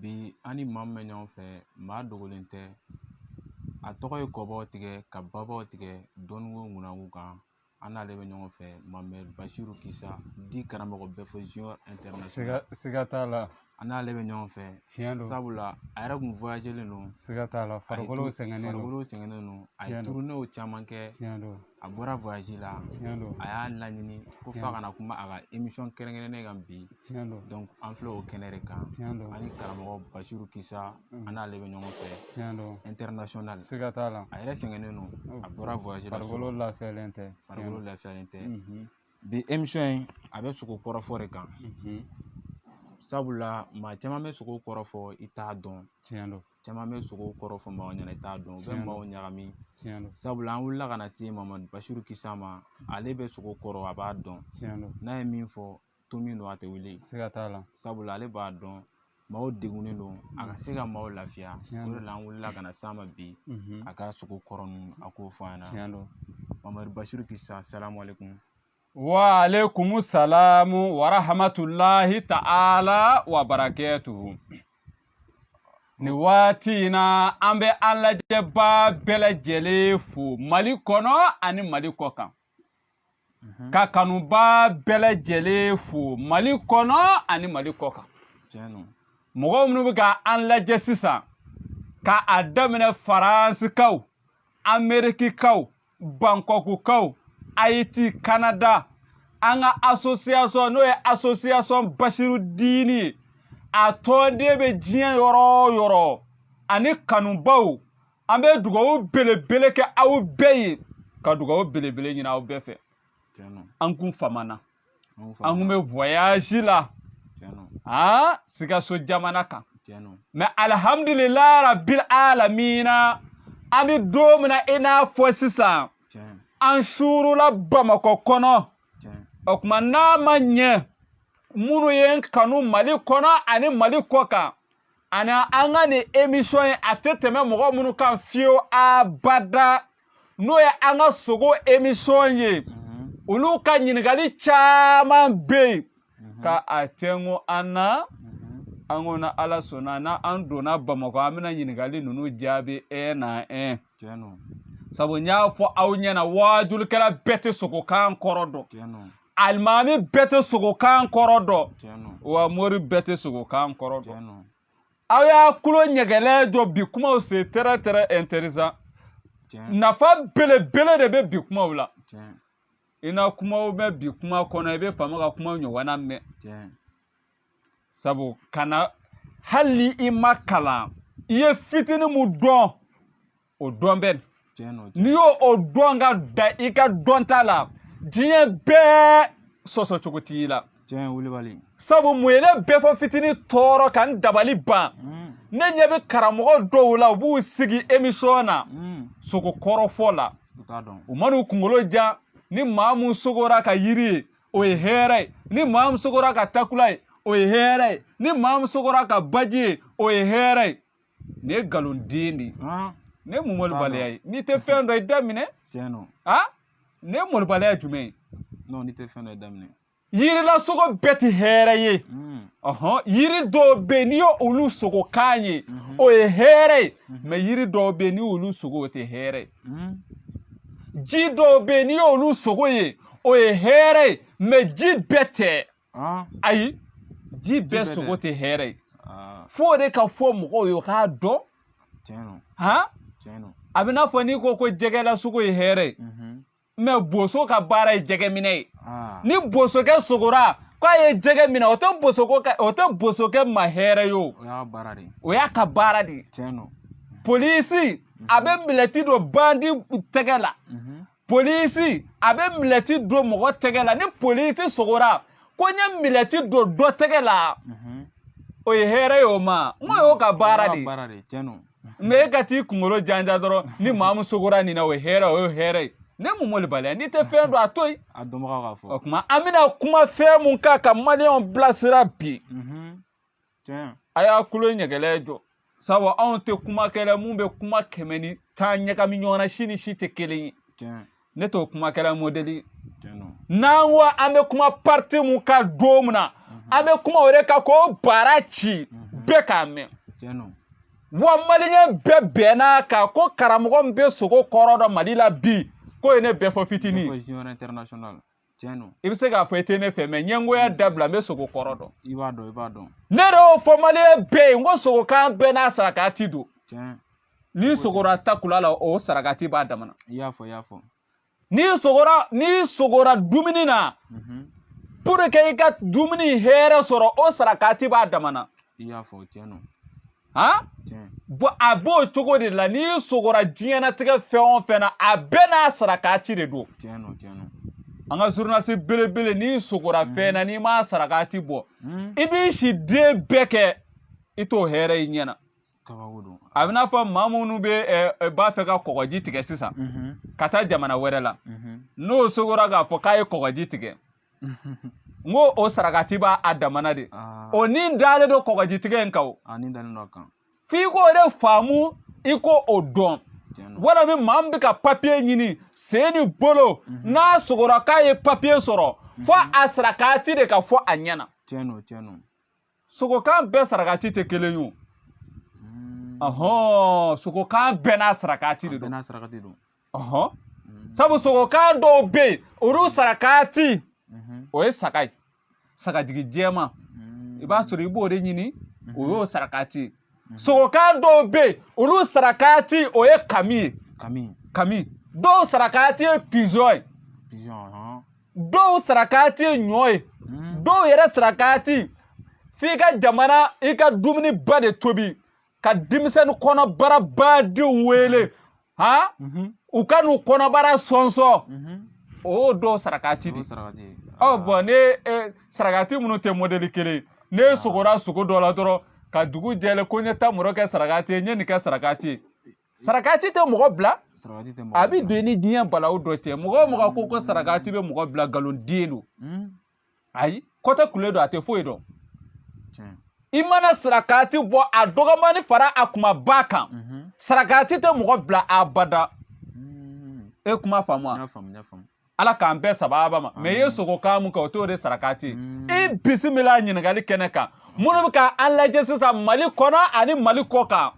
Bi an ni maa min bɛ ɲɔgɔn fɛ maa dogolen tɛ a tɔgɔ ye kɔbaw tigɛ ka babaw tigɛ dɔnko kunko kan an n'ale bɛ ɲɔgɔn fɛ mamɛd basiru kisa di karamɔgɔ bɛfɔ siga t'a la an n'ale bɛ ɲɔgɔn fɛ tiɲɛ don sabula a yɛrɛ kun voyagelen don siga t'a la farikolo sɛgɛnnen don a ye turunew caman kɛ tiɲɛ don A bɔra voyage la tiɲɛ don a y'a laɲini ko f'a kana kuma a ka emisɔn kɛrɛnkɛrɛnnen kan bi donc an filɛ o kɛnɛ de kan tiɲɛ don an ni karamɔgɔ basiru kisa an n'ale bɛ ɲɔgɔn fɛ international siga t'a la a yɛrɛ sɛgɛnnen don a bɔra voyage la farikolo lafiyalen tɛ bi emisɔn in a bɛ sogo kɔrɔfɔ de kan sabula maa caman bɛ sogo kɔrɔ fɔ i t'a dɔn tiɲɛ don caman bɛ sogo kɔrɔ fɔ maaw ɲɛna i t'a dɔn u bɛ maaw ɲagami sabula an wulila ka na se mamɛd basiru kisa ma ale bɛ sogo kɔrɔ a b'a dɔn n'a ye min fɔ to min don a tɛ wuli siga t'a la sabula ale b'a dɔn maaw degunnen don a ka se ka maaw lafiya o de la an wulila ka na s'a ma bi a ka sogo kɔrɔ ninnu a k'o fɔ an ɲɛna mamɛd basiru kisa asalamu alekum Wa alekumu salamu wa rahamatulahi taala wa barakatuhu nin waati in na an bɛ an lajɛba bɛɛ lajɛlen fo mali kɔnɔ ani mali kɔ kan mhm. ka kanuba bɛɛ lajɛlen fo mali kɔnɔ ani mali kɔ kan mɔgɔ minnu bɛ ka an lajɛ sisan ka a daminɛ faransikaw amerikikaw bankɔkukaw ayiti kanada an ka asosiyasɔn n'o ye asosiyasɔn basiru diini ye a tɔnden bɛ diɲɛ yɔrɔ o yɔrɔ ani kanubaw an bɛ dugawu belebele kɛ aw bɛɛ ye ka dugawu belebele ɲini aw bɛɛ fɛ an kun famana an kun bɛ voyage la aa sikaso jamana kan mɛ alihamudulilahi rabil alamina an bɛ don min na i n'a fɔ sisan an suurula bamakɔ kɔnɔ o tuma n'a ma ɲɛ minnu ye n kanu mali kɔnɔ ani mali kɔ kan ani an ka nin emisɔn in a tɛ tɛmɛ mɔgɔ minnu kan fiyewu abada n'o ye an ka sogo emisɔn ye olu ka ɲininkali caman bɛ yen ka a tɛnko an na an ko na ala sɔnna na an donna bamakɔ an bɛna ɲininkali ninnu jaabi un à un sabu n y'a fɔ aw ɲɛna waajulikɛla bɛɛ tɛ sogokan kɔrɔ dɔn alimami bɛɛ tɛ sogokan kɔrɔ dɔn wa mori bɛɛ tɛ sogokan kɔrɔ dɔn aw y'a kulo ɲɛgɛlɛ jɔ bi kumaw c'est très très intéressant nafa belebele de bɛ bi kumaw la i na kuma mɛn bi kuma kɔnɔ i bɛ faama ka kuma ɲɔgɔnna mɛn sabu kana hali ni i ma kalan i ye fitinin mun dɔn o dɔn bien n'i y'o dɔn ka dan i ka dɔnta la diɲɛ bɛɛ sɔsɔ cogo t'i la tiɲɛ wulibali sabu mun ye ne bɛɛ fɔ fitinin tɔɔrɔ ka n dabali ban mm. ne ɲɛ bɛ karamɔgɔ dɔw la u b'u sigi émission na mm. sogo kɔrɔfɔ la u man'u kunkolo jan ni maa mun sogora ka yiri ye o ye hɛrɛ ye ni maa mun sogora ka takula ye o ye hɛrɛ ye ni maa mun sogora ka baji ye o ye hɛrɛ ye nin ye nkalon den de ye nin ye malobaliya ye n'i tɛ fɛn dɔn i da minɛ tiɲɛ don a nin ye malobaliya jumɛn ye n'o n'i tɛ fɛn dɔn i da minɛ yirilasogo bɛɛ tɛ hɛrɛ ye ɔhɔn yiri dɔw bɛ yen n'i ye olu sogo kan ye o ye hɛrɛ ye mais yiri dɔw bɛ yen n'i y'olu sogo o tɛ hɛrɛ ye ji dɔw bɛ yen n'i y'olu sogo ye o ye hɛrɛ ye mais ji bɛɛ tɛ ayi ji bɛɛ sogo tɛ hɛrɛ ye f'o de ka fɔ mɔgɔw ye u k'a dɔn a bɛ n'a fɔ n'i ko ko jɛgɛlasogo ye hɛrɛ ye mais boso ka baara ye jɛgɛminɛ ye ni bosokɛ sogora k'a ye jɛgɛ minɛ o tɛ bosoko o tɛ bosokɛ ma hɛrɛ ye o o y'a ka baara de ye polisi a bɛ milɛti don bandi tɛgɛ la polisi a bɛ milɛti don mɔgɔ tɛgɛ la ni polisi sogora ko n ye milɛti don dɔ tɛgɛ la mhm. o ye hɛrɛ ye o ma n ko y'o ka baara de ye mais e ka t'i kunkolo janja dɔrɔn ni maa min sogora nin na o ye hɛrɛ o ye hɛrɛ ye ne mun malobaliya n'i tɛ fɛn dɔn a to yen a dɔnbagaw ka fɔ o tuma an bɛna kuma fɛn mun kan ka maliyɛnw bilasira bi mhm. a y'a kulo ɲɛgɛlɛ jɔ sabu anw tɛ kumakɛla mun bɛ kuma kɛmɛ ni tan ɲagami ɲɔgɔn na si ni si tɛ kelen ye ne t'o kumakɛla mɔdɛli n'an ko an bɛ kuma pariti mun kan don mun na an bɛ kuma o de kan k'o bara ci bɛɛ k'a mɛn wa maliyɛn bɛɛ bɛnn'a kan ko karamɔgɔ min bɛ sogo kɔrɔ dɔn mali la bi k'o ye ne bɛɛ fɔ fitinin tiɲɛ don i bɛ se k'a fɔ i tɛ ne fɛ mais ɲɛngoya mm. dabila n bɛ sogo kɔrɔ dɔn i b'a dɔn i b'a dɔn ne de y'o fɔ maliyɛn bɛɛ ye n ko sogokan bɛɛ n'a sarakati don tiɲɛ n'i sogora takula la o sarakati b'a damana i y'a fɔ i y'a fɔ n'i sogora n'i sogora dumuni na mhm. pour que i ka dumuni hɛrɛ sɔrɔ o sarakati b'a damana i y'a fɔ o tiɲɛ don han bɔn a b'o cogo de la n'i sogora diɲɛnatigɛ fɛn o fɛn na a bɛɛ n'a sarakati de don an ka zurunalisi belebele n'i sogora mm. fɛn na n'i m'a sarakati bɔ mm. i b'i si de bɛɛ kɛ i t'o hɛrɛ i ɲɛna a bɛ n'a fɔ maa minnu bɛ b'a fɛ ka kɔgɔji tigɛ sisan mm-hmm. ka taa jamana wɛrɛ la mm-hmm. n'o sogora k'a fɔ k'a ye kɔgɔji tigɛ n ko o sarakati b'a damana de ah. o nin dalen don kɔgɔjitigɛ in kan o ah, f'i k'o de faamu i k'o dɔn wala min maa min bɛ ka papiye ɲini sen ni bolo mhm. n'a sogora k'a ye papiye sɔrɔ fo mhm. a sarakati de ka fɔ a ɲɛna sogokan bɛɛ sarakati tɛ kelen ye ɔhɔn sogokan bɛɛ n'a sarakati de don n'a sarakati don ɔhɔn sabu sogokan dɔw bɛ yen olu sarakati o ye saga ye sagajigi jɛman i b'a sɔrɔ i b'o de ɲini o y'o sarakati ye sogokan dɔw bɛ yen olu sarakati o ye kami ye kami kami dɔw sarakati ye pizɔn ye pizɔn dɔw sarakati ye ɲɔ ye hmm. dɔw yɛrɛ sarakati f'i ka jamana i ka dumuniba de tobi ka denmisɛnnin kɔnɔbara badenw wele ha mhm. u ka n'u kɔnɔbara sɔnsɔn mhm. o dɔw sarakati de ɔ bɔn ne e, sarakati minnu tɛ mɔdɛli kelen ye ah. sogora sogo dɔ la dɔrɔn ka dugu jɛlen ko n ye tamaro kɛ sarakati ye n ye nin kɛ sarakati ye sarakati tɛ mɔgɔ bila a bɛ don i ni diɲɛ balawu dɔ cɛ mɔgɔ o mɔgɔ ko ko sarakati bɛ mɔgɔ bila nkalontigɛ don hmm. ayi kɔtɛ kule don a tɛ foyi dɔn i mana sarakati bɔ a dɔgɔmani fara a kumaba kan mhm. sarakati tɛ mɔgɔ bila abada hmm. e kuma faamu wa ala k'an bɛɛ sababa ma mɛ i ye sogokan min kɛ o t'o de sarakati mm. i bisimila ɲininkali kɛnɛ kan minnu bɛ ka an lajɛ sisan mali kɔnɔ ani mali kɔkan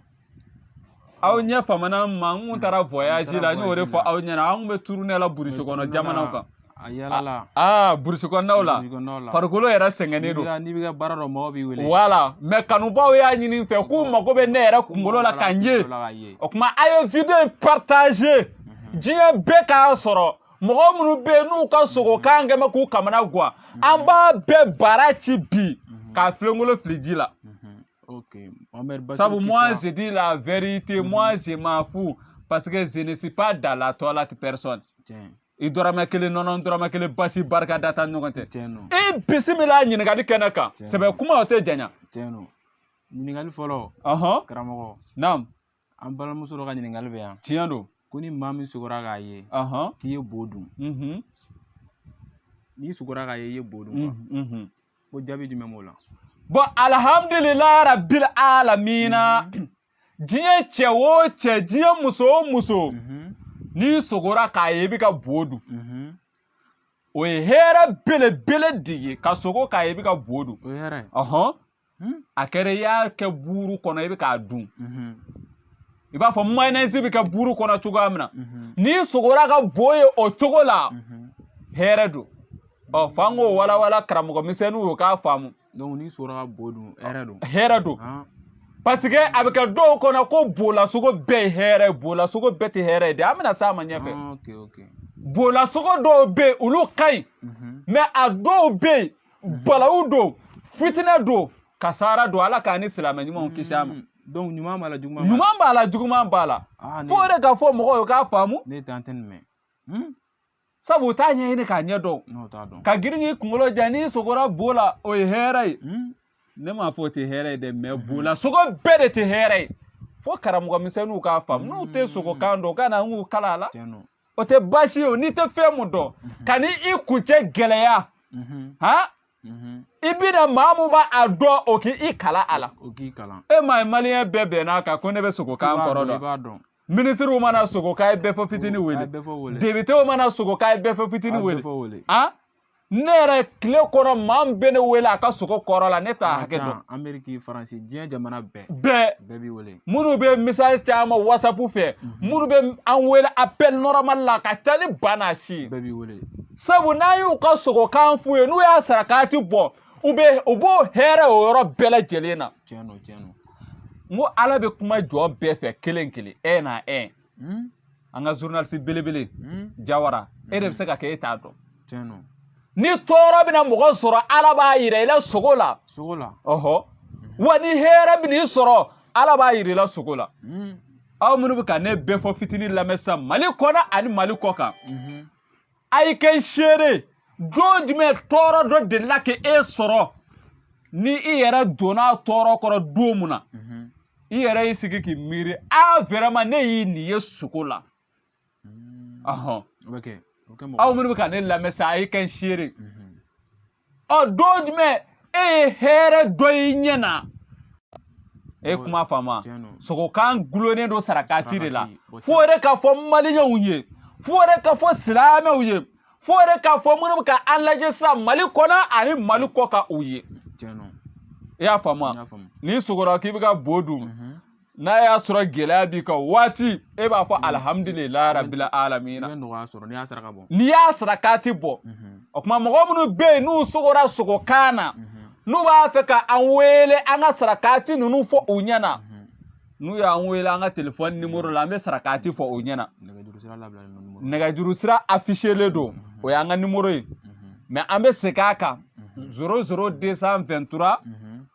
aw ɲɛ famana n ma n kun taara voyage la n y'o de fɔ aw ɲɛna an kun bɛ turune la burusi kɔnɔ jamanaw kan a yalala aa burusi kɔnɔnaw la farikolo yɛrɛ sɛgɛnnen don n'i bɛ ka baara dɔ mɔgɔ b'i wele wala mɛ kanubaw y'a ɲini n fɛ k'u mago bɛ ne yɛrɛ kunkolo la ka n ye o tuma a ye video in partager diɲɛ bɛɛ k'a sɔrɔ mɔgɔ minnu bɛ yen n'u ka sogokan kɛ mɛ k'u kamanagwan an b'a bɛɛ bara ci bi k'a filenkolo fili ji la sabu moi je dis la vérité moi je m'en fous parce que je ne suis pas dans la toilette personne i dɔrɔmɛ kelen nɔnɔ dɔrɔmɛ kelen basi barikada t'a ɲɔgɔn cɛ i bisimila ɲininkali kɛnɛ kan sɛbɛ kuma o tɛ janya ɲininkali fɔlɔ karamɔgɔ naam an balimamuso dɔ ka ɲininkali bɛ yan tiɲɛ don ko ni maa min sugora k'a ye k'i ye bo dun n'i sugora k'a ye i ye bo dun ko jaabi jumɛn b'o la bon alihamdulilayi rabili alamina diɲɛ cɛ o cɛ diɲɛ muso o muso n'i sogora k'a ye i bɛ ka bo dun o ye hɛrɛ belebele de ye ka sogo k'a ye i bɛ ka bo dun hmm? a kɛra i y'a kɛ buuru kɔnɔ i bɛ k'a dun mhm. i b'a fɔ mayonnaise bɛ kɛ buuru kɔnɔ cogoya min na mhm. n'i sogora ka bo ye o cogo la mhm. hɛrɛ don ɔ f'an k'o walawala karamɔgɔ misɛnninw y'u k'a faamu donc n'i sogora ka bo dun hɛrɛ don hɛrɛ don ah. parce que a bɛ kɛ dɔw kɔnɔ ko bolasogo bɛɛ ye hɛrɛ ye bolasogo bɛɛ tɛ hɛrɛ ye dɛ an bɛna s'a ma ɲɛfɛ ah, bolasogo dɔw bɛ yen olu ka ɲi mais a dɔw bɛ yen mhm. balawu don fitinɛ don kasara don ala k'an ni silamɛ ɲumanw kisi a ma mm. donc ɲuman b'a la juguman ɲuman b'a la juguman b'a la ah, fo o de ka fɔ mɔgɔw ye k'a faamu ne tɛ an tɛ nin mɛn hmm? sabu u t'a ɲɛɲini k'a ɲɛ dɔn ka girin k'i kunkolo ja n'i sogora bo la o ye hɛrɛ ye hmm? ne m'a fɔ o tɛ hɛrɛ ye dɛ mais hmm. bolasogo bɛɛ de tɛ hɛrɛ ye fo karamɔgɔ misɛnninw k'a faamu n'u tɛ sogokan dɔn u ka na an k'u kalan a la o tɛ baasi ye o n'i tɛ fɛn mun dɔn mhm. kana i kuncɛ gɛlɛya mhm. han mhm. i bɛ na maa mun b'a a dɔn o k'i kalan a la e m'a ye maliyɛn bɛɛ bɛnn'a kan ko ne bɛ sogokan kɔrɔ dɔn minisiriw mana sogo k'a ye bɛɛ fɔ fitini wele depitew mana sogo k'a ye bɛɛ fɔ fitini wele ne yɛrɛ tile kɔnɔ maa min bɛ ne wele a ka sogo kɔrɔ la ne t'a hakɛ dɔn ameriki faransi diɲɛ jamana bɛɛ bɛɛ bɛɛ b'i wele minnu bɛ message caman whatsapp fɛ mhm. minnu bɛ an wele appel normal la ka ca ni ba n'a si ye bɛɛ b'i wele sabu n'an y'u ka sogokan f'u ye n'u y'a sarakati bɔ u bɛ u b'o hɛrɛ o yɔrɔ bɛɛ lajɛlen na tiɲɛ don tiɲɛ don n ko ala bɛ kuma jɔn bɛɛ fɛ kelen kelen ɛ na ɛ hmm? an ka zurunalisi belebele hmm? jawara e de bɛ se ka kɛ e t'a dɔn ni tɔɔrɔ bɛna mɔgɔ sɔrɔ ala b'a yira i la sogo la sogo la ɔhɔ wa ni hɛrɛ bɛna i sɔrɔ ala b'a yira i la sogo la aw minnu bɛ ka ne bɛɛ fɔ fitinin lamɛn sisan mali kɔnɔ ani mali kɔkan a ye kɛ n seere don jumɛn tɔɔrɔ dɔ delila ka e sɔrɔ ni i yɛrɛ donna tɔɔrɔ kɔrɔ don mun na i yɛrɛ y'i sigi k'i miiri a vraiment ne ye nin ye sogo la ɔhɔn aw minnu bɛ ka ne lamɛn sa a ye kɛ n seere ɔ don jumɛn e ye hɛrɛ dɔ y'i ɲɛ na i ye kuma faamu sogokan gulonnen don sarakati de la f'o yɛrɛ ka fɔ maliyɛnw ye f'o yɛrɛ ka fɔ silamɛw ye f'o yɛrɛ ka fɔ minnu bɛ ka an lajɛ sisan mali kɔnɔ ani mali kɔkan u ye i y'a faamu n'i sogora k'i bɛ ka bo dun mhm. n'a y'a sɔrɔ gɛlɛya b'i kan waati e b'a fɔ alihamudulila rabila alamina n'i y'a sarakati bɔ o tuma mɔgɔ minnu bɛ yen n'u sogora sogokan na n'u b'a fɛ ka an wele an ka sarakati ninnu fɔ u ɲɛna n'u y'an wele an ka telefɔni nimoro la an bɛ sarakati fɔ u ɲɛna nɛgɛjuru sira afiselen don o y'an ka nimoro ye mɛ an bɛ segin a kan zéro zéro deux cent vingt-trois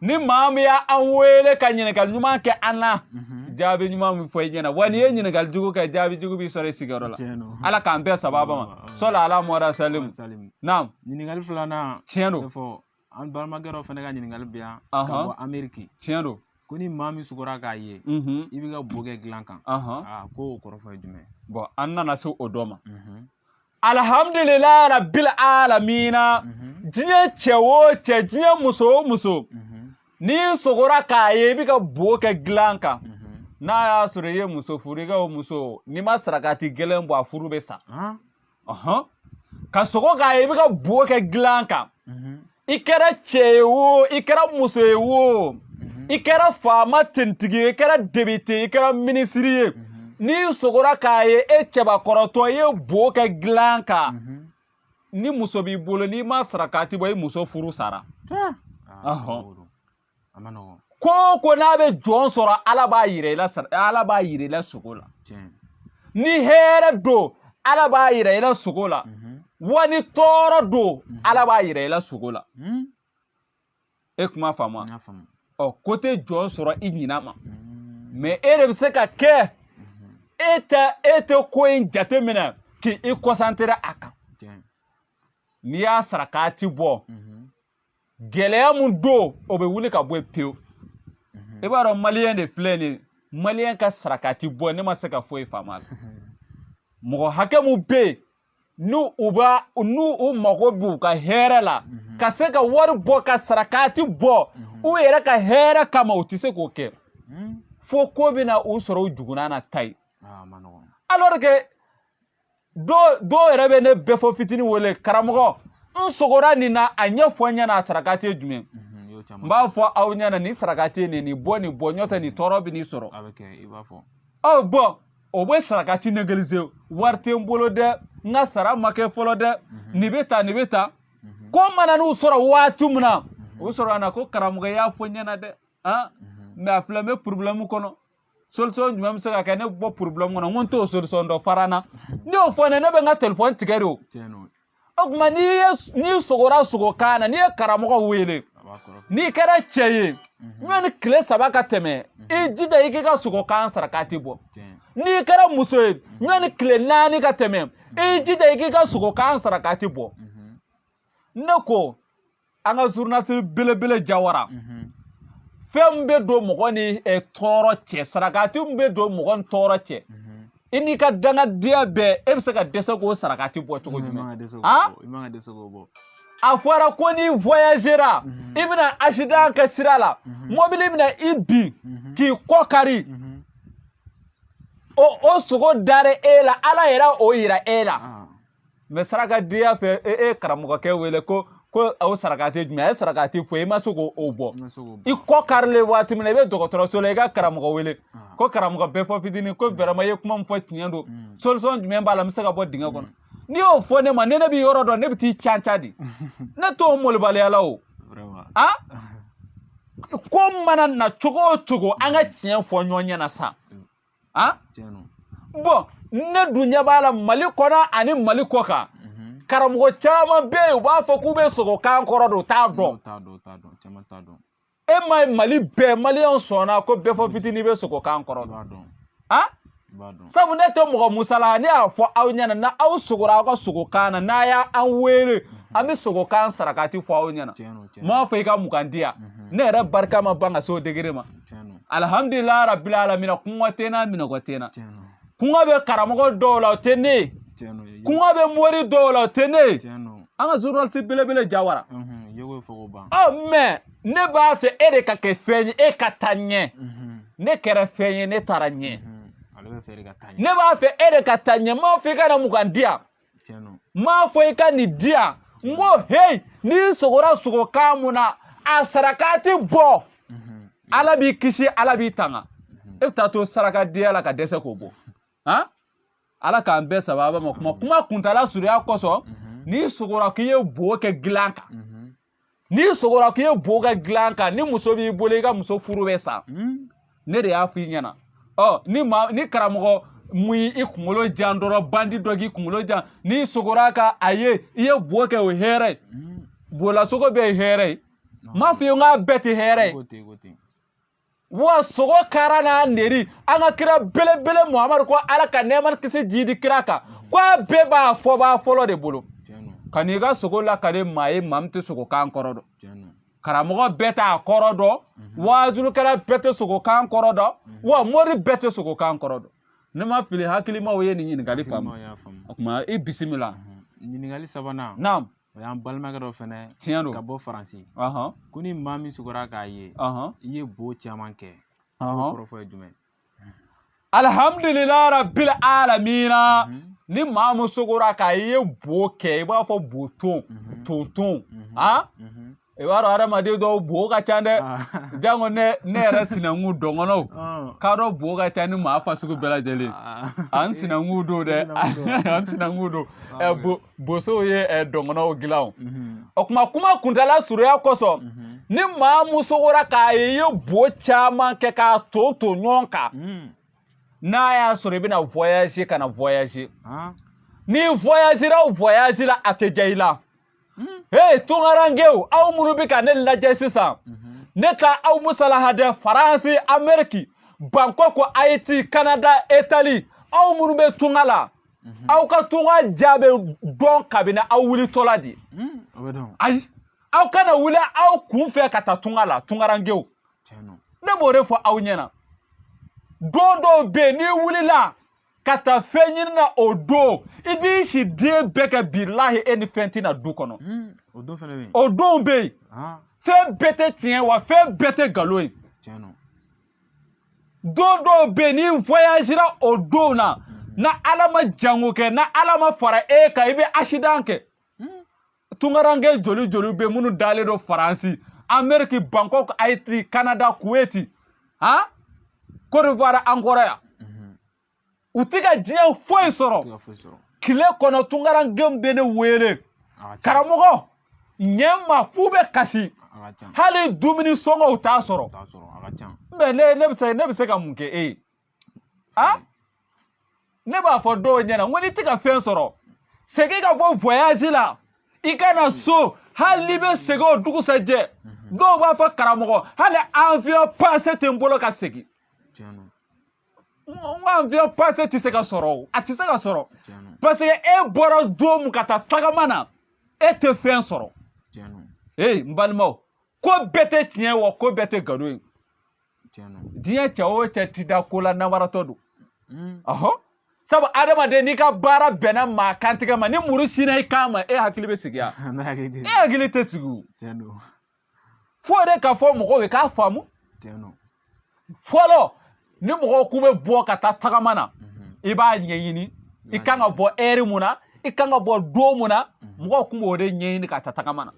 ni maa min y'an wele ka ɲininkali ɲuman kɛ an na mhm. jaabi ɲuman bɛ fɔ i ɲɛna wa n'i ye ɲininkali jugu kɛ jaabi jugu b'i sɔrɔ i sigiyɔrɔ la ala k'an bɛn sababa ma sɔli ala mɔda salimu naam ɲininkali filanan tiɲɛ don fɔ an balimakɛ dɔ fana ka ɲininkali bɛ yan ka bɔ ameriki tiɲɛ don ko ni maa min sugora k'a ye mhm. i b'i ka bo kɛ dilan kan ko o kɔrɔfɔ ye jumɛn bɔn an nana se o dɔ ma mhm. alhamdulillah rabbil alamina mhm. diɲɛ cɛ o cɛ diɲɛ muso o muso mhm. n'i sogora k'a ye i bɛ ka bo kɛ dilan kan mhm. n'a y'a sɔrɔ i ye muso furu i ka o muso n'i ma sarakati gɛlɛn bɔ a furu bɛ sa ka sogo k'a ye i bɛ ka bo kɛ dilan kan i kɛra cɛ ye wo i kɛra muso ye wo mhm. i kɛra faama tentigi ye i kɛra depite i kɛra minisiri ye mhm. n'i sogora k'a ye e cɛbakɔrɔtɔ i ye bo kɛ dilan kan mhm. ni muso b'i bolo n'i ma sarakati bɔ i muso furu sara ah. a man nɔgɔn ko o ko n'a bɛ jɔn sɔrɔ ala b'a yira i la sogo la ni hɛrɛ don ala b'a yira i la sogo la mhm. wa ni tɔɔrɔ don mhm. ala b'a yira i la sogo la mhm. e kuma faamu ɔ ko tɛ jɔn sɔrɔ i ɲinan ma mɛ e de bɛ se ka kɛ e tɛ ko in jate minɛ k'i kɔsantere a kan n'i y'a sarakati bɔ gɛlɛya min don o bɛ wuli ka bɔ yen pewu i b'a dɔn maliyɛn de filɛ nin ye maliyɛn ka sarakati bɔ ne ma se ka foyi faamu a la mɔgɔ hakɛ min bɛ yen n'u mago b'u ka hɛrɛ la mhm. ka se ka wari bɔ ka sarakati bɔ mhm. u yɛrɛ ka hɛrɛ kama u tɛ se k'o kɛ mhm. fo ko bɛna u sɔrɔ u jugunan na ta ye ah, alors que dɔw yɛrɛ bɛ ne bɛɛfɔ fitinin wele karamɔgɔ n sogora nin na a ɲɛ fɔ n ɲɛna a sarakati ye jumɛn n b'a fɔ aw ɲɛna nin sarakati ye nin nin bɔ nin bɔ n'o tɛ nin tɔɔrɔ bɛ nin sɔrɔ ɔ bɔn o bɛ sarakati negelize wari tɛ n bolo dɛ n ka sara ma kɛ fɔlɔ dɛ nin bɛ ta nin bɛ ta ko mana n'u sɔrɔ waati min na o sɔrɔ a na ko karamɔgɔ y'a fɔ n ɲɛna dɛ mɛ a filɛ n bɛ porobilɛmu kɔnɔ solution jumɛn bɛ se ka kɛ ne bɔ problème kɔnɔ n ko n t'o solution dɔn fara n na n'i y'o fɔ ne ne bɛ n ka telefɔni tigɛ de o o tuma n'i ye n'i sogora sogo kan na n'i ye karamɔgɔ wele n'i kɛra cɛ ye ɲɔni mhm. tile saba ka tɛmɛ mhm. i jija i k'i ka sogo kan sarakati bɔ n'i kɛra muso ye mhm. ɲɔni tile naani ka tɛmɛ i jija i k'i ka sogo kan sarakati bɔ ne ko an ka journaliste belebele jawara fɛn min bɛ don mɔgɔ ni tɔɔrɔ cɛ sarakati min bɛ don mɔgɔ ni tɔɔrɔ cɛ i n'i ka dangadenya bɛɛ e bɛ se ka dɛsɛ k'o sarakati bɔ cogo jumɛn a fɔra ko n'i voyagera i bɛna accident kɛ sira la mobili bɛna i bin k'i kɔ kari o o sogo dara e la ala yɛrɛ o yira e la mais sarakadenya fɛ e ye karamɔgɔkɛ wele ko ko o sarakati jumɛn a ye sarakati fɔ i ma se k'o bɔ i kɔ karilen waati min na i bɛ dɔgɔtɔrɔso la i ka karamɔgɔ wele ko karamɔgɔ bɛfɔ fitinin ko vraiment i ye kuma min fɔ tiɲɛ don solution jumɛn b'a la n bɛ se ka bɔ dingɛ kɔnɔ n'i y'o fɔ ne ma ni ne bɛ yɔrɔ dɔn ne bɛ t'i can can di ne t'o molobaliya la o a ko mana na cogo o cogo an ka tiɲɛ fɔ ɲɔgɔn ɲɛna sa a bon ne dun ɲɛ b'a la mali kɔnɔ ani mali kɔ kan karamɔgɔ caman bɛ yen u b'a fɔ k'u bɛ sogo kan kɔrɔ dɔn u t'a dɔn e m'a ye mali bɛɛ maliyɛnw sɔnna ko bɛfɔ fitinin bɛ sogo kan kɔrɔ dɔn a sabu ne tɛ mɔgɔ musala ne y'a fɔ aw ɲɛna n'aw sogora aw ka sogo kan na n'a y'an wele an bɛ sogo kan sarakati fɔ aw ɲɛna n m'a fɔ i ka mugan di yan ne yɛrɛ barika ma ban ka se o degré ma alhamdulilayi rabbil alamina kɔngɔ tɛ n na minnɔgɔ tɛ n na kɔngɔ bɛ karamɔgɔ dɔw la o tɛ ne ye kɔngɔ bɛ mori dɔw la o tɛ ne ye an ka journaliste belebele jawara ɔ mais ne b'a fɛ e de ka kɛ fɛn ye e ka taa ɲɛ ne kɛra fɛn ye ne taara ɲɛ ne b'a fɛ e de ka taa ɲɛ n m'a fɔ i ka na mugan di yan n m'a fɔ i ka nin di yan n ko heyi n'i sogora sogo kan mun na a sarakati bɔ mhm. ala b'i kisi ala b'i tanga mhm. e bɛ taa to sarakadenya la ka dɛsɛ k'o bɔ han ala k'an bɛɛ sababa ma kuma kuma kuntala surunya kosɔn n'i sogora k'i ye bo kɛ gilan kan n'i sogora k'i ye bo kɛ dilan kan ni muso b'i bolo i ka muso furu bɛ sa hmm. ne de y'a f'i ɲɛna ɔ ni maa ni karamɔgɔ mun y'i kunkolo jan dɔrɔn bandi dɔ k'i kunkolo jan n'i sogora k'a ye i ye bo kɛ o ye hɛrɛ ye hmm. bolasogo bɛɛ ye hɛrɛ ye n m'a f'i ye n k'a bɛɛ tɛ hɛrɛ ye wa sogo kara n'a neri an ka kira belebele muhamadu ko ala ka nɛɛma kisi jidi kira kan ko a bɛɛ b'a fɔbaa fɔlɔ de bolo kan'i ka sogo lakale maa ye maa min tɛ sogo kan kɔrɔ dɔn karamɔgɔ bɛɛ t'a kɔrɔ dɔn waajulukɛla bɛɛ tɛ sogo kan kɔrɔ dɔn wa mori bɛɛ tɛ sogo kan kɔrɔ dɔn ni n ma fili hakilimaw ye nin ɲininkali faamu o tuma i bisimila ɲininkali sabanan naamu O y'an balimakɛ dɔ fɛnɛ ye tiɲɛ don ka bɔ faransi ko ni maa min sugora k'a ye i ye bo caman kɛ kɔrɔfɔ ye jumɛn alihamdulilahi rabili alamina mhm. ni maa min sogora k'a ye bo kɛ i b'a fɔ bo ton mhm. ton ton mhm. a i b'a dɔn hadamaden dɔw bo ka ca dɛ janko ne ne yɛrɛ sinankun dɔngɔnɔw k'a dɔw bo ka ca ni maa fasugu bɛɛ lajɛlen an sinankun don dɛ an sinankun don bosow ye dɔngɔnɔw dilan o o kuma kuma kuntala surunya kosɔn ni maa mun sogora k'a ye i ye bo caman kɛ k'a ton ton ɲɔgɔn kan n'a y'a sɔrɔ i bɛna voyage kana voyage n'i voyagera o voyage la a tɛ diya i la hmm. hey tunkarankew aw minnu bɛ ka ne lajɛ sisan mhm. ne t'aw musalaha dɛ faransi ameriki bankoko ayiti kanada itali aw minnu bɛ tunga la mhm. aw ka tunga diya bɛ dɔn kabini aw wulitɔla de hmm, ayi aw kana wuli aw kun fɛ ka taa tunga la tunkarankew ne b'o de fɔ aw ɲɛna don dɔw bɛ yen n'i wulila ka taa fɛn ɲini na o don i b'i si den bɛɛ kɛ bilahi e ni fɛn tɛ na du kɔnɔ hmm, o don fɛnɛ bɛ yen o don bɛ yen ah. fɛn bɛɛ tɛ tiɲɛ wa fɛn bɛɛ tɛ nkalon ye tiɲɛ don don dɔw bɛ yen n'i voyagera o don na hmm. n'ala ma jango kɛ n'ala ma fara e kan i bɛ asidan kɛ tungaranke joli joli bɛ minnu dalen don faransi ameriki bangkok ayiti kanada kuweti han ah? kodiwari an kɔrɔ yan mhm. u tɛ ka diɲɛ foyi sɔrɔ tile kɔnɔ tungarankew bɛ ne wele karamɔgɔ ɲɛ n ma f'u bɛ kasi hali dumuni sɔngɔ u t'a sɔrɔ mais ne bɛ se ka mun kɛ e ye a ne b'a fɔ dɔw ɲɛna n ko n'i tɛ ka fɛn sɔrɔ segin ka bɔ voyage la i ka na so hali n'i bɛ segin o dugusajɛ dɔw b'a fɔ karamɔgɔ hali avion passe tɛ n bolo ka segin n ko avion passe tɛ se ka sɔrɔ o a tɛ se ka sɔrɔ parce que e bɔra don mun ka taa tagama na e tɛ fɛn sɔrɔ ee n balimaw ko bɛɛ tɛ tiɲɛ wa ko bɛɛ tɛ nkalon ye diɲɛ cɛ o cɛ ti da ko la nawaratɔ don hmm. ɔhɔ sabu adamaden n'i ka baara bɛnna maa kantigɛ ma ni muru sinna i kan ma e hakili bɛ sigi ya e hakili tɛ sigi o fo de ka fɔ mɔgɔw ye k'a faamu fɔlɔ ni mɔgɔw k'u bɛ bɔ ka taa tagama na mhm. i b'a ɲɛɲini i kan ka bɔ heure mun na i kan ka bɔ don mun na mhm. mɔgɔw kun b'o de ɲɛɲini ka taa tagama na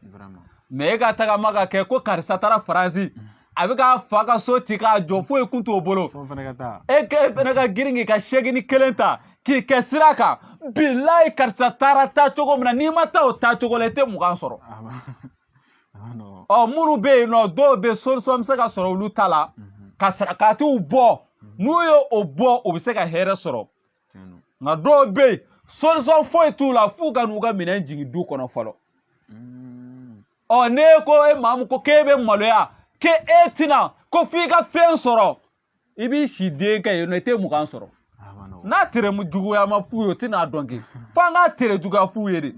mais e ka tagama ka kɛ ko karisa taara faransi mhm. a bɛ k'a fa ka so ci k'a jɔ foyi kun t'o bolo e ke e fana ka girin k'i ka segini kelen ta k'i kɛ sira kan bilayi karisa taara taa cogo min na n'i ma taa o taa cogo la i tɛ mugan sɔrɔ ɔ minnu bɛ yen nɔ dɔw bɛ solution bɛ se ka sɔrɔ olu ta la ka sarakatiw bɔ n'u ye o bɔ u bɛ se ka hɛrɛ sɔrɔ nka dɔw bɛ yen solution foyi t'u la f'u ka n'u ka minɛn jigin du kɔnɔ fɔlɔ mm. ɔ ne ko e maa min ko k'e bɛ maloya k'e tɛ na ko f'i ka fɛn sɔrɔ i b'i si den kɛ yen nɔ i tɛ mugan sɔrɔ n'a tere juguya ma f'u ye o tɛna dɔn kɛ f'an ka tere juguya f'u ye de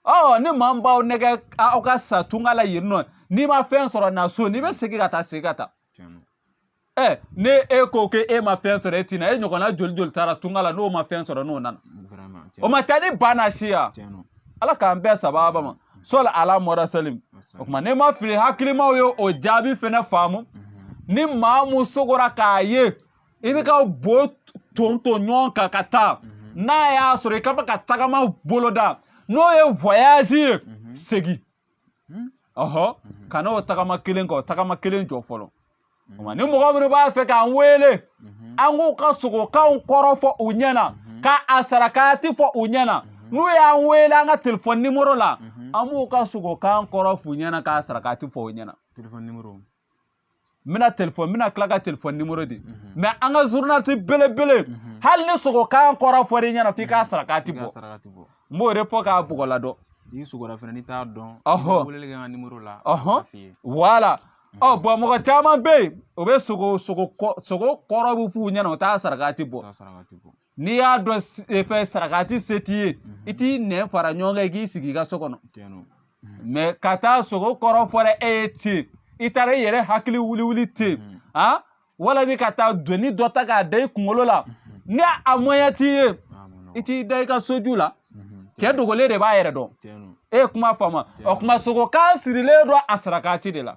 ɔ ni maa min b'aw nɛgɛn aw ka sa tunga la yen nɔ n'i ma fɛn sɔrɔ na so n'i bɛ segin ka taa segin ka taa ɛ n'e ko k'e ma fɛn sɔrɔ e ti na e ɲɔgɔnna joli joli taara tunga la n'o ma fɛn sɔrɔ n'o nana o ma taa ni ba na si ya ala k'an bɛɛ sababa ma sɔli ala mɔra salim o tuma ni n ma fili hakilimaw ye o jaabi fɛnɛ faamu ni maa mun sogora k'a ye i bɛ ka bo ton ton ɲɔgɔn kan ka taa n'a y'a sɔrɔ i kun bɛ ka tagama boloda n'o ye voyage ye segin hmm? ɔhɔ mhm. kana o tagama kelen kɛ o tagama kelen jɔ fɔlɔ mhm. ni mɔgɔ minnu b'a fɛ k'an wele mhm. an k'u ka sogokanw kɔrɔ fɔ u ɲɛ na k'a sarakati fɔ u ɲɛ na n'u y'an wele an ka telefɔni nimoro la an b'u ka sogokan kɔrɔ f'u ɲɛ na k'a sarakati fɔ u ɲɛ na n bɛna telefɔni n bɛna tila ka telefɔni nimoro di mais an ka journaliste belebele hali ni sogokan kɔrɔ fɔra i ɲɛna f'i k'a sarakati bɔ n b'o de fɔ k'a bɔgɔla dɔn n'i sogora fana n'i t'a dɔn ɔhɔn weleli kɛ n ka nimoro la ɔhɔn voilà ɔ bon mɔgɔ caman bɛ yen o bɛ sogo sogo kɔrɔ bɛ f'u ɲɛna u t'a sarakati bɔ n'i y'a dɔn e fɛ sarakati se t'i ye i t'i nɛn fara ɲɔgɔn kan i k'i sigi i ka so kɔnɔ mais ka taa sogo kɔrɔ fɔra e ye ten i taara i yɛrɛ hakili wuli wuli ten walima ka taa doni dɔ ta k'a da i kunkolo la ni a moyen t'i ye i t'i da i ka soju la cɛ dogolen de b'a yɛrɛ dɔn e ye kuma faamu o kuma sogokan sirilen don a sarakati de la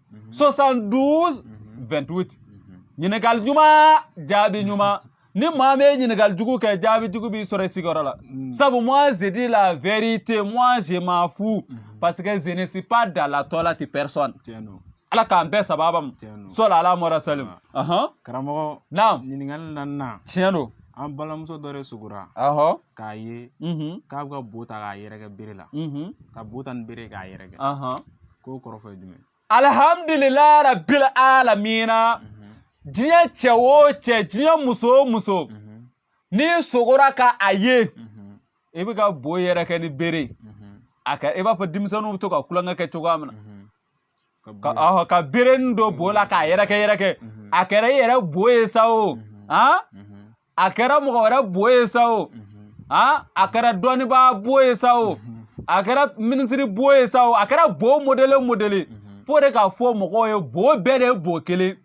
72 28 ɲininkali ɲuman jaabi ɲuman ni maa bɛ ɲininkali jugu kɛ jaabi jugu b'i sɔrɔ i sigiyɔrɔ la sabu moi je dis la vérité moi je m'en fous parce que je ne suis pas dans la toilette de personne ala k'an bɛɛ sababa ma sɔli ala mɔra salim karamɔgɔ naam ɲininkali naaninan tiɲɛ don an balimamuso dɔ de sugura k'a ye k'a bɛ ka bo ta k'a yɛrɛkɛ bere la ka bo ta ni bere k'a yɛrɛkɛ k'o kɔrɔfɔ ye jumɛn alihamdulilayi rabil alamina mhm. diɲɛ cɛ o cɛ diɲɛ muso o muso mhm. n'i sogora ka a ye mhm. i bɛ ka bo yɛrɛkɛ ni bere a kɛra i b'a fɔ denmisɛnninw bɛ to ka tulonkɛ kɛ cogoya min na ka berenin don bo la k'a yɛrɛkɛ yɛrɛkɛ a kɛra i yɛrɛ bo ye sa o a kɛra mɔgɔ wɛrɛ bo ye sa o a kɛra dɔnnibaa bo ye sa o a kɛra minisiri bo ye sa o a kɛra bo modele modele fo de k'a fɔ mɔgɔw ye bo bɛɛ de ye bo kelen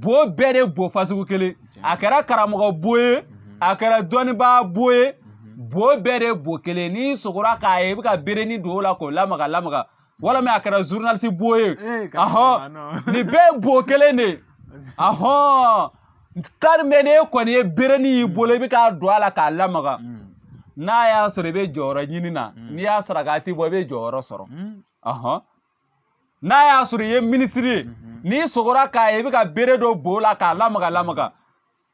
bo bɛɛ de ye bo fasugu kelen a kɛra karamɔgɔ bo ye a kɛra dɔnnibaa bo ye bo bɛɛ de ye bo kelen n'i sogora k'a ye i bɛ ka bereni don o la k'o lamaga lamaga walima a kɛra journaliste bo ye ahɔn nin bɛɛ ye bo kelen de ye ahɔn tari mɛ n'e kɔni ye bereni y'i bolo i bɛ k'a don a la k'a lamaga n'a y'a sɔrɔ i bɛ jɔyɔrɔ ɲini na n'i y'a sarakati bɔ i bɛ jɔyɔrɔ sɔrɔ ahɔn n'a y'a sɔrɔ i ye minisiri ye n'i sogora k'a ye i bɛ ka bere don bo la k'a lamaga lamaga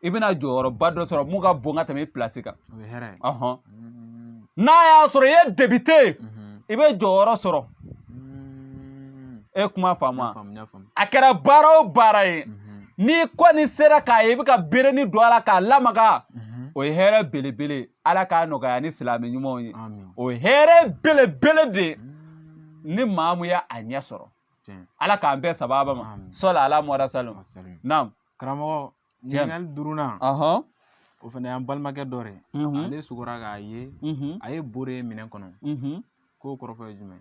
i bɛna jɔyɔrɔba dɔ sɔrɔ mun ka bon ka tɛmɛ i pilasi kan mm. n'a y'a sɔrɔ i ye député ye mm-hmm. i bɛ jɔyɔrɔ sɔrɔ mm. e kuma faamu a kɛra baara o baara ye mm-hmm. n'i kɔni sera k'a ye i bɛ ka bereni don a la k'a lamaga mm-hmm. o ye hɛrɛ belebele ala k'a nɔgɔya ni silamɛ ɲumanw ye o ye hɛrɛ belebele de ye mm. ni maa mun ye a ɲɛ sɔrɔ ala k'an bɛɛ sababa ma sɔli ala mɔda salim naam karamɔgɔ ɲininkali duurunan o fana y'an balimakɛ dɔ de ye ale sugora k'a ye a ye bo de ye minɛn kɔnɔ k'o kɔrɔfɔ ye jumɛn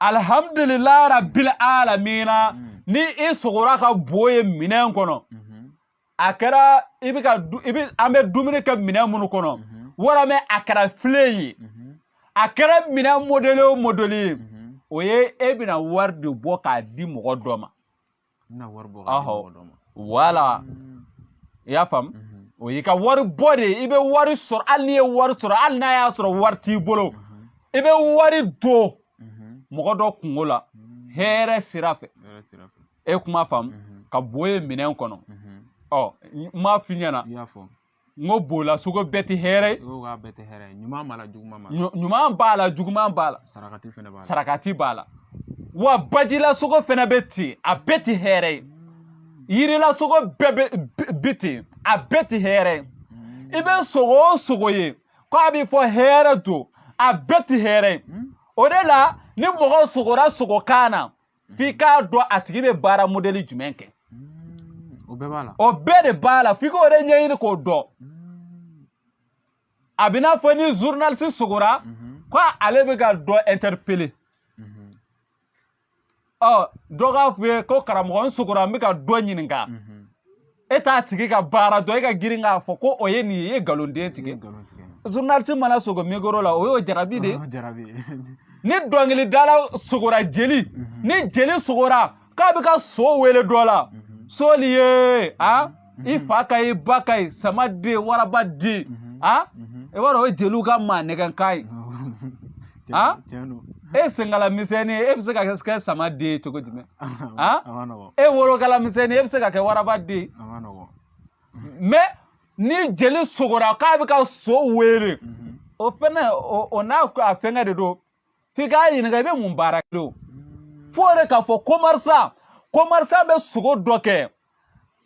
alihamdulilayi rabili alamina ni i sogora ka bo ye minɛn kɔnɔ a kɛra an bɛ dumuni kɛ minɛn minnu kɔnɔ walima a kɛra filen ye a kɛra minɛn mɔdele o mɔdele ye o ye e bɛna wari de bɔ k'a di mɔgɔ dɔ ma wala i y'a faamu mhm. o y'i ka wari bɔ de ye i bɛ wari sɔrɔ hali n'i ye wari sɔrɔ hali n'a y'a sɔrɔ wari t'i bolo mhm. i bɛ wari don mhm. mɔgɔ dɔ kungo la hɛrɛ sira fɛ e kuma faamu ka bo ye minɛn kɔnɔ ɔ n m'a f'i ɲɛna n ko bola sogo bɛɛ tɛ hɛrɛ ye sogokan bɛɛ tɛ hɛrɛ ye ɲuman b'a la juguman b'a la ɲuman b'a la juguman b'a la sarakati fɛnɛ b'a la sarakati b'a la wa bajila sogo fɛnɛ bɛ ten a bɛɛ tɛ hɛrɛ ye yirila sogo bɛɛ bɛ ten a bɛɛ tɛ hɛrɛ ye hmm. i bɛ sogo o sogo ye ko a bɛ fɔ hɛrɛ don a bɛɛ tɛ hɛrɛ ye hmm. o de la ni mɔgɔ sogora sogokan na f'i k'a dɔn a tigi bɛ baara mɔdɛli jumɛn kɛ o bɛɛ b'a la o bɛɛ de b'a la f'i k'o de ɲɛɲini k'o dɔn a bɛ n'a fɔ ni zurunalisi sogora ko ale bɛ ka dɔ ɛntɛripele ɔ dɔ k'a f'i ye ko karamɔgɔ n sogora n bɛ ka dɔ ɲininka e t'a tigi ka baara dɔn e ka girin k'a fɔ ko o ye nin ye e ye nkalon de tigɛ journaliste mana sogo mikoro la o y'o jarabi de ye ni dɔnkilidala sogora jeli mhm. ni jeli sogora k'a bɛ ka so wele dɔ la mhm. soli ye a mhm. i fa ka ye ba ka ye sama den waraba den a i b'a dɔn o ye jeliw ka maa nɛgɛnkan ye a e senkala misɛnnin e bɛ se ka kɛ sama den ye cogo jumɛn a e wolokala misɛnnin e bɛ se ka kɛ waraba den ye mɛ ni jeli sogora k'a bɛ ka so wele mhm. o fɛnɛ o n'a fɛnkɛ de don f'i k'a ɲininka i bɛ mun baara kɛ o mm. f'o de k'a fɔ komɛrisan komɛrisan bɛ sogo dɔ kɛ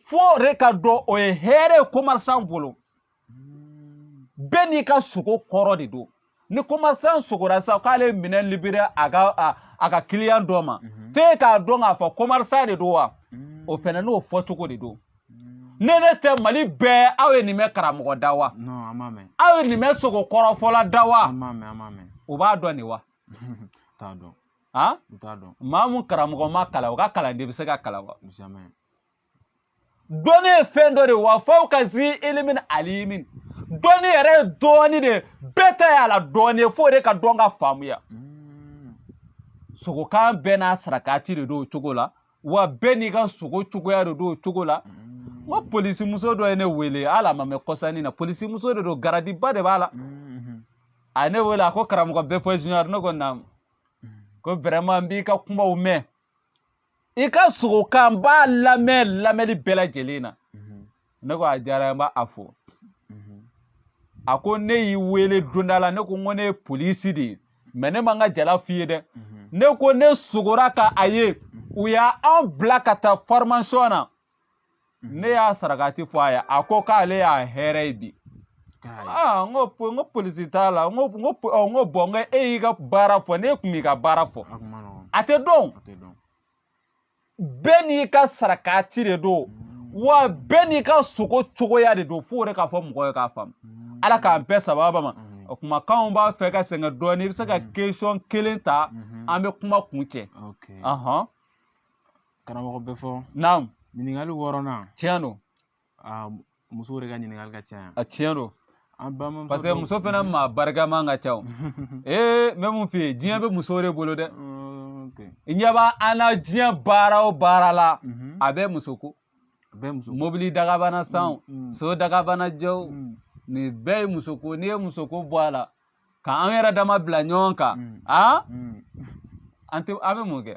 f'o de k'a dɔn o ye hɛrɛ ye komɛrisan bolo bɛɛ n'i ka sogo kɔrɔ de don ni komɛrisan sogora sa k'ale minɛn livré a ka a ka kiliyan dɔ ma mhm. f'e k'a dɔn k'a fɔ komɛrisan de don wa mhm. o fɛnɛ n'o fɔcogo de don mhm. ne ne tɛ mali bɛɛ aw ye nin mɛn karamɔgɔ da wa aw ye nin mɛn sogo kɔrɔfɔla da wa o b'a dɔn nin wa maa mun karamɔgɔ ma kalan o ka kalanden bɛ se ka kalan wa dɔnni ye fɛn dɔ de ye wa fawka zi ilimin alimin dɔnni yɛrɛ ye dɔɔni de ye bɛɛ ta y'a la dɔɔni ye f'o de ka dɔn ka faamuya hmm. sogokan bɛɛ n'a sarakati de don o cogo la wa bɛɛ n'i ka sogo cogoya de don o cogo la hmm. n ko polisimuso dɔ ye ne wele hali a ma mɛn kɔsa in na polisimuso de don garadiba de b'a la hmm. a ye ne wele a ko karamɔgɔ bɛfɔ junior ne ko naamu ko vraiment n b'i ka kumaw mɛn i ka sogokan n b'a lamɛn lamɛnni bɛɛ lajɛlen na mhm. ne ko a diyara n b'aw fo mhm. a ko ne y'i wele donda la ne ko n ko ne ye polisi de ye mɛ ne ma n ka jala f'i ye dɛ mhm. ne ko ne sogora ka a ye u y'an bila ka taa fɔrimasiyɔn na ne y'a sarakati fɔ a ye a ko k'ale y'a hɛrɛ ye bi aa n ko n ko polisi t'a la n ko n ko n ko bɔn n ko e y'i ka baara fɔ n'i kun m'i ka baara fɔ a tɛ dɔn bɛɛ n'i ka sarakati de don wa bɛɛ n'i ka sogo cogoya de don f'o de ka fɔ mɔgɔ ye k'a faamu ala k'an bɛɛ sababa ma o kumakanw b'a fɛ ka sɛgɛn dɔɔnin i bɛ se ka kesɔn kelen ta an bɛ kuma kuncɛ karamɔgɔ befo naamu ɲininkali wɔɔrɔnan tiɲɛ don muso de ka ɲininkali ka ca a tiɲɛ don parce que muso fana maa barikama ka ca ee n bɛ mun f'i ye diɲɛ bɛ muso de bolo dɛ i ɲɛ b'an na diɲɛ baara o baara la mhm. a bɛɛ muso ko mobili dagabana san mm, mm. so dagabana jɔ mm. nin bɛɛ ye muso ko n'i ye muso ko bɔ a la ka an yɛrɛ dama bila ɲɔgɔn kan a an tɛ an bɛ mun kɛ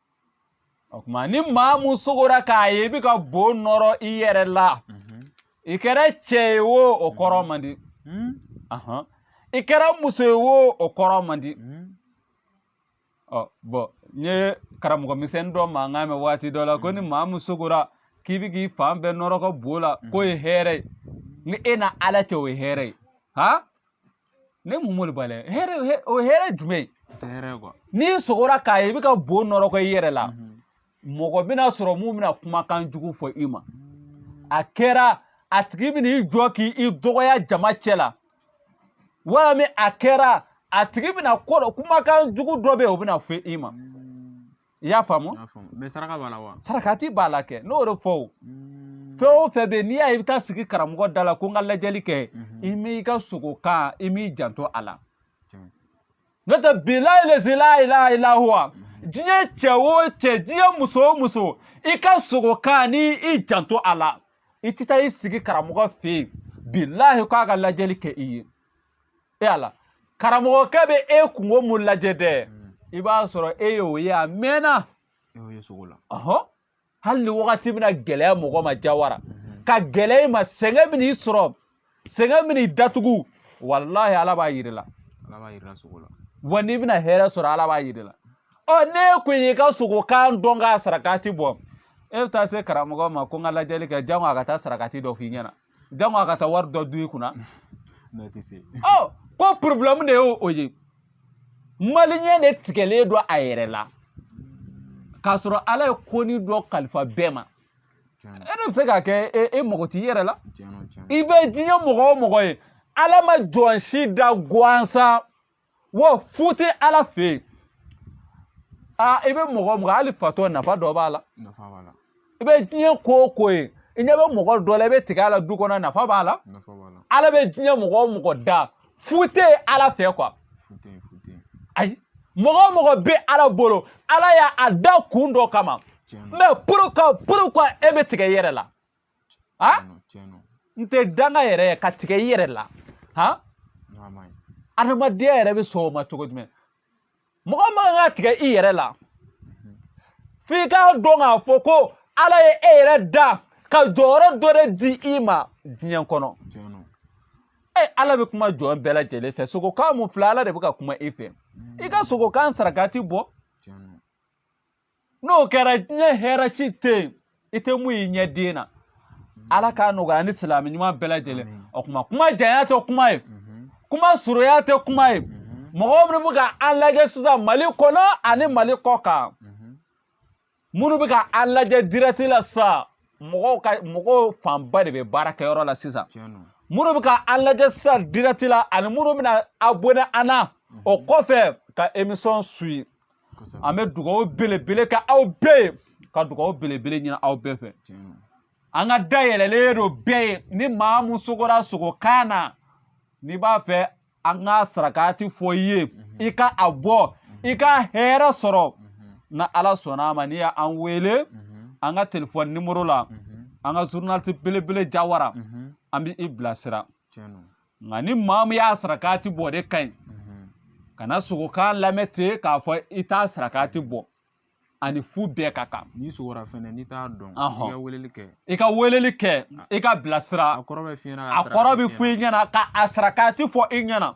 o kuma ni maa mun sogora k'a ye i bɛ ka bo nɔrɔ i yɛrɛ la i kɛra cɛ ye o o kɔrɔ man di i kɛra muso ye o o kɔrɔ man di ɔ bɔn n ye karamɔgɔ misɛnnin dɔ mankan mɛn waati dɔ la ko ni maa mun sogora k'i bɛ k'i fan bɛɛ nɔrɔgɔ bo la k'o ye hɛrɛ ye ni e n'ala cɛ o ye hɛrɛ ye han ne mun m'olu bali hɛrɛ hɛ- o ye hɛrɛ jumɛn ye o tɛ hɛrɛ ye kuwa n'i sogora k'a ye i bɛ ka bo nɔrɔgɔ i yɛrɛ la mɔgɔ bɛna sɔrɔ mun bɛna kumakan jugu fɔ i ma a kɛra a tigi bɛna i jɔ k'i dɔgɔya jama cɛ la walima a kɛra a tigi bɛna ko dɔ kumakan jugu dɔ bɛ yen o bɛna fɔ i ma i y'a faamu mɛ saraka b'a la wa sarakati b'a la kɛ n'o de fɔ o hmm. fɛn o fɛn bɛ yen n'i y'a ye i bɛ taa sigi karamɔgɔ da la ko n ka lajɛli kɛ mhm. i m'i ka sogo kan i m'i janto a la n'o tɛ bilahi lezi layilaha ila huwa diɲɛ cɛ o cɛ diɲɛ muso o muso i ka sogo kan ni i janto a la i tɛ taa i sigi karamɔgɔ fɛ yen bilahi k'a ka lajɛli kɛ i ye e ala karamɔgɔkɛ bɛ e kunko mun lajɛ dɛ hmm. i b'a sɔrɔ e y'o ye a mɛnna e y'o ye sogo la ɔhɔn hali ni wagati bɛna gɛlɛya mɔgɔ ma jawara hmm. ka gɛlɛya i ma sɛgɛn bɛn'i sɔrɔ sɛgɛn bɛn'i datugu walahi ala b'a yir'i la ala b'a yir'i la sogo la wa n'i bɛna hɛrɛ sɔrɔ ala b'a yir'i la ɔ n'e kun y'i ka sogokan dɔn k'a sarakati bɔ e bɛ taa se karamɔgɔ ma ko n ka lajɛli kɛ janko a ka taa sarakati dɔ f'i ɲɛna janko a ka taa wari dɔ dun i kunna n'o tɛ se ɔ ko porobilɛmu de y'o o ye maliyɛn de tigɛlen don a yɛrɛ la k'a sɔrɔ ala ye konin dɔ kalifa bɛɛ ma e de bɛ se k'a kɛ e mɔgɔ t'i yɛrɛ la i bɛ diɲɛ mɔgɔ o mɔgɔ ye ala ma jɔn si da gansan wa fu tɛ ala fɛ yen aa i bɛ mɔgɔ o mɔgɔ hali fatɔ nafa dɔ b'a la i bɛ diɲɛ ko o ko ye i ɲɛ bɛ mɔgɔ dɔ la i bɛ tigɛ a la du kɔnɔ nafa b'a la ala bɛ diɲɛ mɔgɔ o mɔgɔ da fu tɛ yen ala fɛ quoi ayi mɔgɔ o mɔgɔ bɛ ala bolo ala y'a da kun dɔ kama mais pourquoi pourquoi e bɛ tigɛ i yɛrɛ la a n tɛ danga yɛrɛ ye ka tigɛ i yɛrɛ la han adamadenya yɛrɛ bɛ sɔn o ma cogo jumɛn mɔgɔ man kan ka tigɛ i yɛrɛ la mhm. f'i k'a dɔn k'a fɔ ko ala ye e yɛrɛ da ka jɔyɔrɔ dɔ de di i ma diɲɛ kɔnɔ e ala bɛ kuma jɔn bɛɛ lajɛlen fɛ sogokan mun filɛ ala de bɛ ka kuma i fɛ i ka sogokan sarakati bɔ n'o kɛra diɲɛ hɛrɛ si tɛ yen i tɛ mun y'i ɲɛ den na ala k'a nɔgɔya ni silamɛ ɲuman bɛɛ lajɛlen o kuma kuma janya tɛ kuma ye mhm. kuma surunya tɛ kuma ye mhm. mɔgɔw minnu bɛ ka an lajɛ sisan mali kɔnɔ ani mali kɔ kan mhm. minnu bɛ ka an lajɛ dirɛti la sisan mɔgɔw ka mɔgɔw fanba de bɛ baarakɛyɔrɔ la sisan minnu bɛ ka an lajɛ sisan dirɛti la ani minnu bɛna abonɛ an na o kɔfɛ ka emisɔn suyi an bɛ dugawu belebele kɛ aw bɛɛ ye ka dugawu belebele ɲini aw bɛɛ fɛ an ka da yɛlɛlen don bɛɛ ye ni maa mun sogora sogokan na n'i b'a fɛ an ka sarakati fɔ i ye mhm. i ka a bɔ mhm. i ka hɛrɛ sɔrɔ mhm. ni ala sɔnna a ma n'i y'an wele an ka telefɔni nimoro la an ka zurunaliti belebele jawara an bɛ i bilasira nka ni maa min y'a sarakati bɔ de ka ɲi mhm. kana sogokan lamɛn ten k'a fɔ i t'a sarakati bɔ ani fu bɛɛ ka kan n'i sogora fɛnɛ n'i t'a dɔn i ka weleli kɛ i ka weleli kɛ i ka bilasira a kɔrɔ bɛ f'i ɲɛna a kɔrɔ bɛ f'i ɲɛna ka a sarakati fɔ i ɲɛna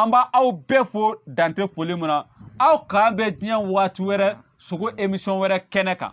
an b'aw bɛɛ fo dan tɛ foli min na aw k'an bɛn diɲɛ waati wɛrɛ sogo emisɔn wɛrɛ kɛnɛ kan